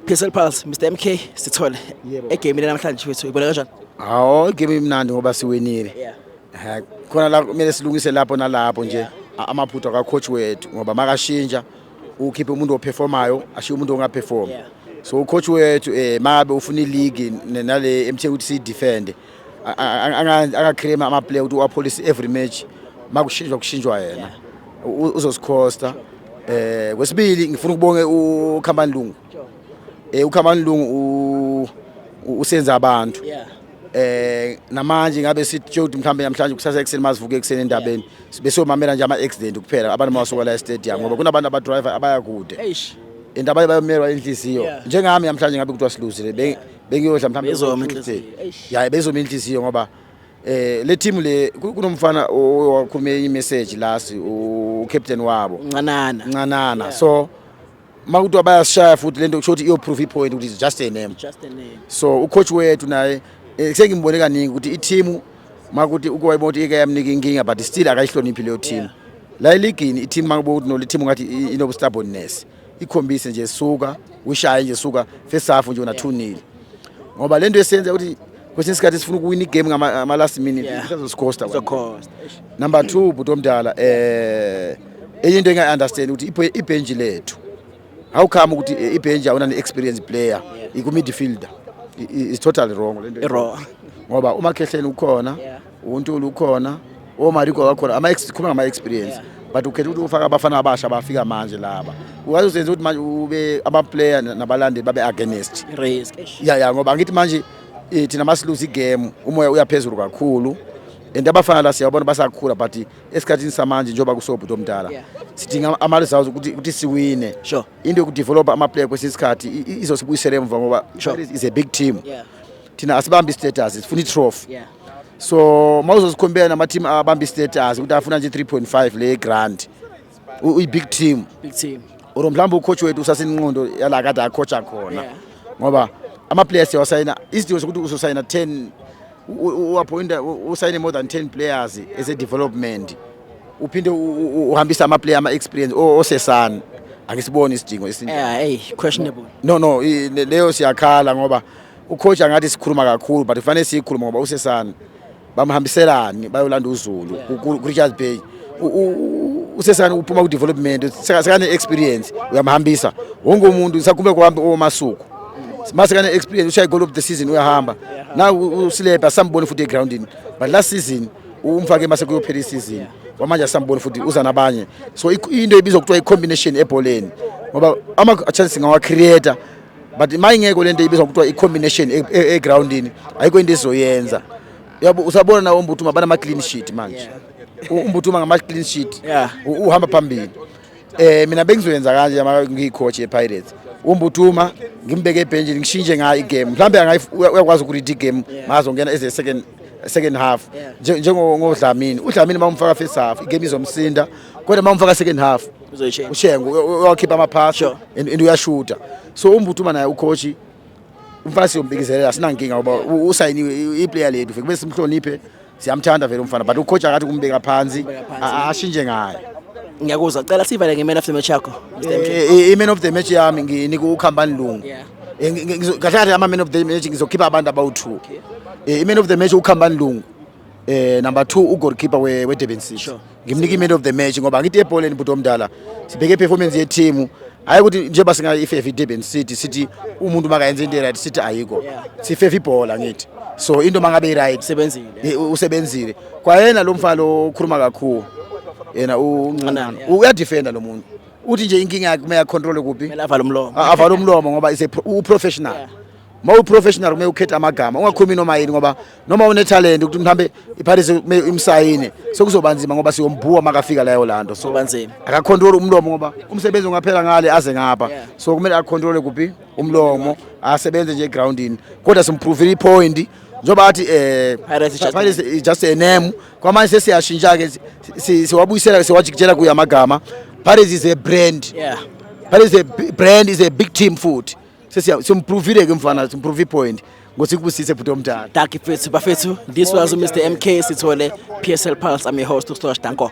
Crystal Pulse Mr MK sithole egame namhlanje wethu ibona kanjani Hawo igame imnandi ngoba siwinile yeah eh, khona la kumele silungise lapho nalapho nje amaphutha ka coach wethu ngoba makashintsha ukhiphe umuntu operformayo ashiye umuntu ongaperform so coach wethu eh mabe ufuna ileague nale emthe ukuthi si defend angaclaim amaplayer ukuthi uwapolice every match makushintshwa kushintshwa yena uzosikhosta eh kwesibili ngifuna ukubonge uKhambani Lungu eh uKhambani Lungu usenza abantu eh namanje ngabe sithi Jody mhlambe namhlanje kusasa ekseni masivuke ekseni endabeni besiyomamela nje ama accident kuphela abantu mawasuka la stadium ngoba kunabantu aba driver abaya kude indaba bayomelwa inhliziyo njengami namhlanje ngabe kuthiwa siluzile bengiyodla mhlawumbe Bezoma ku-Tuesday. inhliziyo, eish. ya bezoma inhliziyo ngoba eh le team le ku- kunomfana owakhulume imessage last u captain wabo uncanana ncanana so makuthiwa bayasishaya futhi lento kusho ukuthi iyoprove ipoint ukuthi it's just a name just a name so ucoach wethu naye eh, sengimbone kaningi ukuthi iteam makuthi ukuwayibona ukuthi ike yamnika inkinga but still akayihloniphi leyo team la eligini iteam makuba ukuthi no le team ngathi i- inobustubbornness ikhombise nje suka ushaye nje suka first half nje una 2 nil ngoba lento esenza ukuthi kwesinye isikhathi sifuna ukuwina igame ngama last minute sizoscosta number 2 bhuti omdala eh enye into engayi understand ukuthi ibench lethu how come ukuthi eh, ibench awuna ne experience player iku midfielder is totally wrong lento wrong ngoba umakhehleni ukhona uNtuli ukhona oMariko oh, kakhona ama khuluma ngama experience but ukhetha ukuthi ufaka abafana abasha bafika manje laba ukaze usenze ukuthi manje ube ama player nabalandi babe against risk ya ya ngoba ngithi manje eh, thina masiluza igame umoya uyaphezulu kakhulu and abafana la siyabona basakhula but esikhathini samanje njengoba kusobhuti omdala sidinga ama results ukuthi ukuthi siwine sure into yokudevelop ama player kwesinye isikhathi izosibuyisela emva ngoba is a big team yeah. thina asibambi status sifuna itrophy yeah. so mawuzozikhompela nama team abambi status ukuthi afuna nje 3.5 le grand uyi big team big team or mhlawumbe ucoach wethu usasinqondo yala kade acoacha khona yeah. ngoba ama players yawasayina isidingo sokuthi uzosayina 10 uappointa usayine more than 10 players as a development uphinde uhambisa ama player ama experience osesana angisiboni isidingo esinje eh hey questionable no no leyo siyakhala ngoba ucoach angathi sikhuluma kakhulu but kufanele siyikhuluma ngoba usesana bamhambiselani bayolanda uzulu kuRichards Bay usesana uphuma kudevelopment sekane experience uyamhambisa wonke umuntu sakume kuhambe omasuku mase kana experience ushaya goal of the season uyahamba na usilebha sambone futhi egroundini but last season umfake mase kuyophela isizini kwamanje asamboni futhi uza nabanye so into ibizwa kuthiwa i-combination ebholeni ngoba ama-chances ngawacreator but mayingekho lento ibizwa kuthiwa i-combination e, e, egroundini ayikho into ezoyenza yabo usabona nawo umbuthuma banama clean sheet manje umbuthuma ngama clean sheet uhamba phambili eh mina bengizoyenza kanje ama ngiyicoach yePirates umbuthuma ngimbeke ebhenjini ngishintshe ngayo igame mhlawumbe uyakwazi ukuread igame mazongena as a second second half njengodlamini udlamini uma umfaka first half igame izomsinda kodwa uma umfaka second half uzoyishenga ushenga uyakhipha amaphasi Sure. and and uyashuta so umbutuma naye ucoach umfana siyombikizelela sinankinga ngoba u- usayiniwe i- iplayer lethu kube simhloniphe siyamthanda vele umfana but ucoach akathi kumbeka phansi a- a- ashintshe ngaye ngiyakuzwa cela sivale nge-man of the match yakho Mr. MJ. Eh, eh, i-man of the match yami nginika ukhambani lungu Yeah. Eh, ngi- ngi- ngizo- kahle kahle ama-man of the match ngizokhipha abantu abawu-two Eh, i-man of the match ukhambani lungu Eh number 2 ugoalkeeper we we Durban City. Sure. Ngimnika iman of the match ngoba ngithi ebholeni bhuti omdala. Sibheke performance ye team. Hayi ukuthi njengoba singa ifefe Durban City sithi umuntu makayenza into right sithi ayiko. Sifefe ibhola ngithi. So into mangabe right sebenzile. Eh, usebenzile. Kwayena lo mfana okhuluma kakhulu. Yena uncanana. Uyadefenda lo muntu. Uthi nje inkinga yakhe uma ya control kuphi? Kumele avale umlomo. Avale umlomo ngoba is a pro, u professional. Yeah. uma uyi-professional kumele ukhethe amagama ungakhulumi noma yini ngoba noma unethalente ukuthi mhambe iphathise kumele imsayine sekuzoba nzima ngoba siyombhuwa makafika layo la nto so akakhontrole umlomo ngoba umsebenzi ungaphela ngale aze ngapha so kumele akhontrole kuphi umlomo asebenze nje egroundini kodwa simpruvile ipointi njengoba athi eh Pirates is just a name kwamanje sesiyashintsha ke siwabuyisela siwajikijela kuya amagama Pirates is a brand yeah Pirates is a brand is a big team futhi siyompruvile ke mfana simprove ipoint ngothi kubusise bhuti omdala daki fethu bafethu this was mr mk sithole psl pulse i'm your host ustosh danko